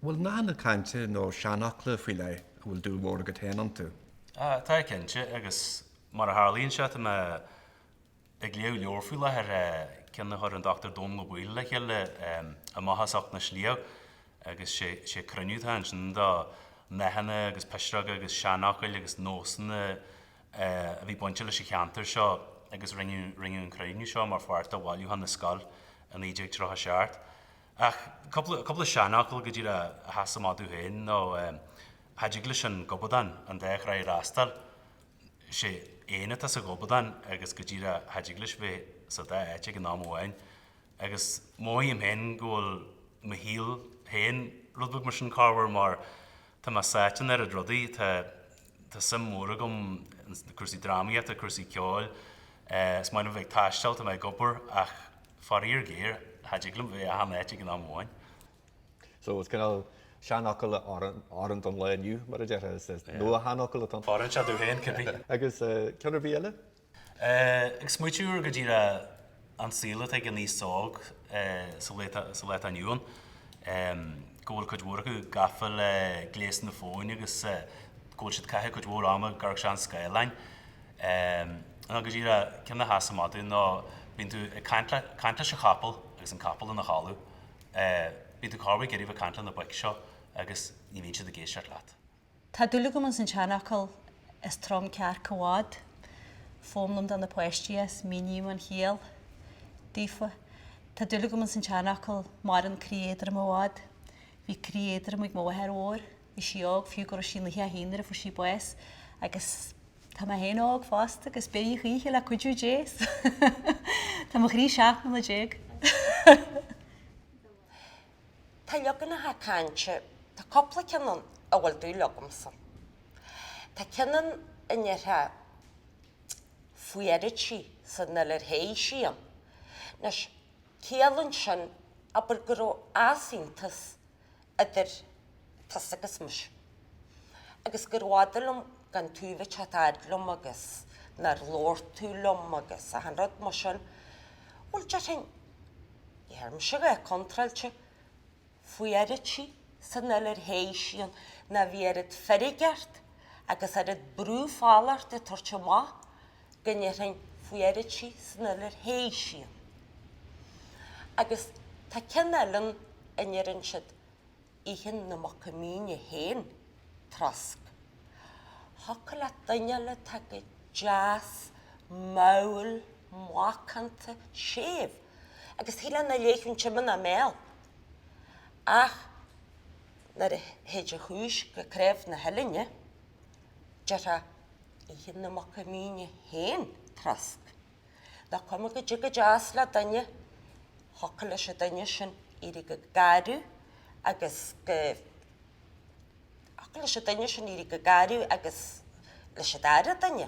Bhfuil nathanna cainte nó seanfhocla faoi leith a bhfuil dúil mhór agat féin iontu? Tá cinnte, agus mar a tharlaíonn sé tá mé ag léamh leabhar faoi láthair, ceann a chuir an Dr Dónall Ó Baoill le chéile, Amach as Ucht na Sliabh, agus sé cruinniú atá ansin do nathanna agus pisreoga agus seanfhocail agus nósanna a bhí bainte leis an cheantar seo agus rinneadh an cruinniú seo mar pháirt de Bhailiúchán na Scol i 1937. Ach cúpla seanfhocal go díreach a sheasann amach domh féin nó cha dtig leis an gobadán an dá thráigh a fhreastal. 'Sé éan atá sa ghobadán agus go díreach cha dtig leis bheith sa dá áit ag an am amháin. Agus mothaím féin go bhfuil mo shaol féin rud beag mar sin corruair mar tá mé sáite in oiread rudaí, tá suim mhór agam i gcúrsaí drámaíochta, cúrsaí ceoil, is maith liom bheith ag taisteal, tá mé ag obair ach. Faraor géar, cha dtig liom bheith achan áit ag an am amháin. So is cineál seanfhocal a oireann don lá inniu, mar a déarfá, is nua-sheanfhocal atá ann. Oireann sé domh féin, cinnte. Agus ceann ar bith eile? Ag smaoitiú ar go díreach an saol atá ag an aos óg sa lá atá inniu ann, go bhfuil cuid mhór acu gafa le gléasanna fóin agus go bhfuil siad ag caitheamh cuid mhór ama ag amharc sna scáileáin. Ehm, ná go díreach ceann a sheasann amach domh nó bíonn tú ag caint le, caint leis an chapall agus an capall ina chodladh. Eh, bíonn tú corruair ag iarraidh a bheith ag caint le na boic seo agus ní bhíonn siad ag éisteacht leat. Tá dúil agam ins an seanfhocal Is trom cearc i bhfad. Foghlaimím do na páistí é is míním an chiall daofa. Tá dúil agam ins an seanfhocal Maireann croí éadrom i bhfad. Bhí croí éadrom ag mo mháthair mhór. Bhí sí óg, fiú go raibh sí 91 nuair a fuair sí bás, agus tá mé féin óg fosta agus beidh a choíche, le cuidiú Dé, tá mo chroí seacht mbliana déag. Tá leaganacha cainte, tá cúpla ceann ann a bhfuil dúil agamsa. Tá ceann ann a ndéarfá fuaróidh sí san fhuil ar théigh sí ann. Anois, ciallann sin, abair, go raibh easaontas idir tusa agus mise, agus gurbh fhada liom gan tú bheith ag tagairt liom agus nár labhair tú liom agus achan rud mar sin. Bhuel, déarfainn, shíl mise go raibh tú contráilte fuaróidh sí san fhuil ar théigh sí ann nó bhí oiread feirge ort agus oiread brú fola ort ag tabhairt amach. go ndéarfainn faoi Airtí san fhuil ar théigh siad. Agus tá ceann eile ann a ndeireann siad Itheann na muca míne féin triosc. Thiocfadh leat duine a fháil atá go deas mall macánta séimh agus shílfeá nach leáfadh an t-im ina mbéal ach nuair a théid an chúis go cnámh na huillinne, déarfá Itheann na muca míne féin triosc. Nach cuma caidé chomh deas le duine thiocfadh leis an duine sin éirí go garbh agus go thiocfadh leis an duine sin éirí chomh garbh agus leis an dara duine.